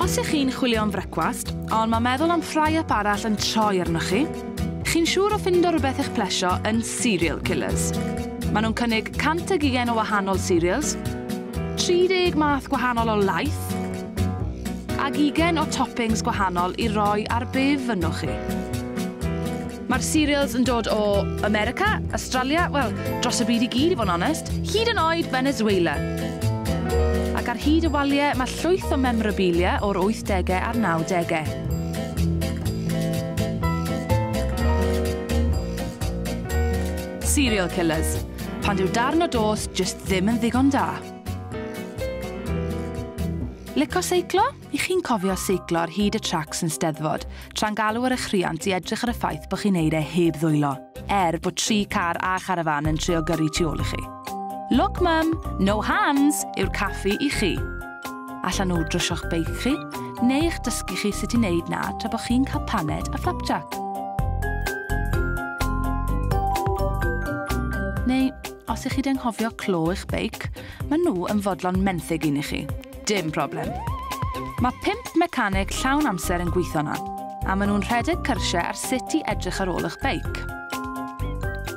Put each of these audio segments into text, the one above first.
Os ych chi'n chwilio am frecwast, ond mae meddwl am fry-up arall yn troi arnoch chi, chi'n siŵr o ffindo rhywbeth eich plesio yn Cereal Killers. Maen nhw'n cynnig 120 o wahanol cereals, 30 math gwahanol o laeth, Ag ugain o toppings gwahanol i roi ar bydd fynnwch chi. Mae'r cereals yn dod o America, Australia, wel, dros y byd i gyd i fod yn onest, hyd yn oed Venezuela. Ac ar hyd y waliau mae llwyth o memorabilia o'r 80au a'r 90au. serial killers, pan dyw darn o dost just ddim yn ddigon da. Lico seiclo? I chi'n cofio seiclo ar hyd y tracs yn steddfod, tra'n galw ar eich rhiant i edrych ar y ffaith bod chi'n neud e heb ddwylo, er bod tri car a charafan yn trio gyrru tu ôl i chi. Look mum, no hands yw'r caffi i chi. Allan nhw drysio'ch beic chi, neu eich dysgu chi sut i wneud na tra bod chi'n cael paned a flapjack. Neu Os ych chi di anghofio clo eich beic, maen nhw yn fodlon menthyg un i chi. Dim problem. Mae pimp mecaneg llawn amser yn gweithio na, a maen nhw'n rhedeg cyrsiau ar sut i edrych ar ôl eich beic.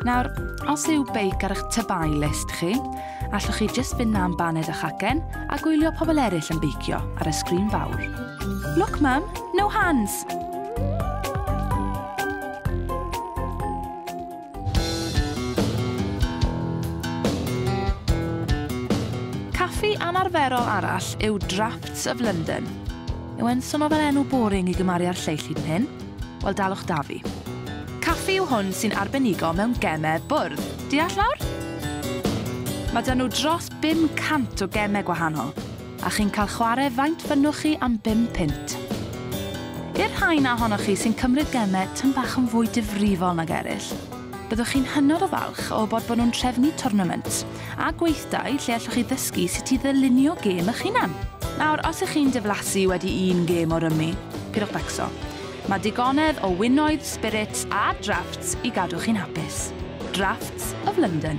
Nawr, os yw beic ar eich tybai list chi, allwch chi jyst fynd na am baned a chacen a gwylio pobl eraill yn beicio ar y sgrin fawr. Look, Mum, no hands! Caffi anarferol arall yw Draughts of London. Yw e'n swnio fel enw boring i gymaru â'r lleill hyd yn hyn? Wel dalwch da fi. Caffi yw hwn sy'n arbenigo mewn gemau bwrdd. Deall nawr? Mae 'da nhw dros 500 o gemau gwahanol. a chi'n cael chwarae faint bynnwch chi am bum punt. I'r rhai 'na ohonoch chi sy'n cymryd gemau tym bach yn fwy difrifol nag eraill, byddwch chi'n hynod o falch o wybod bod nhw'n trefnu twrnament a gweithdai lle allwch chi ddysgu sut i ddylunio gêm eich hunan. Nawr, os ych chi'n diflasu wedi un gêm o rymi, pidwch becso. Mae digonedd o winoedd, spirits a drafts i gadw chi'n hapus. Drafts of London.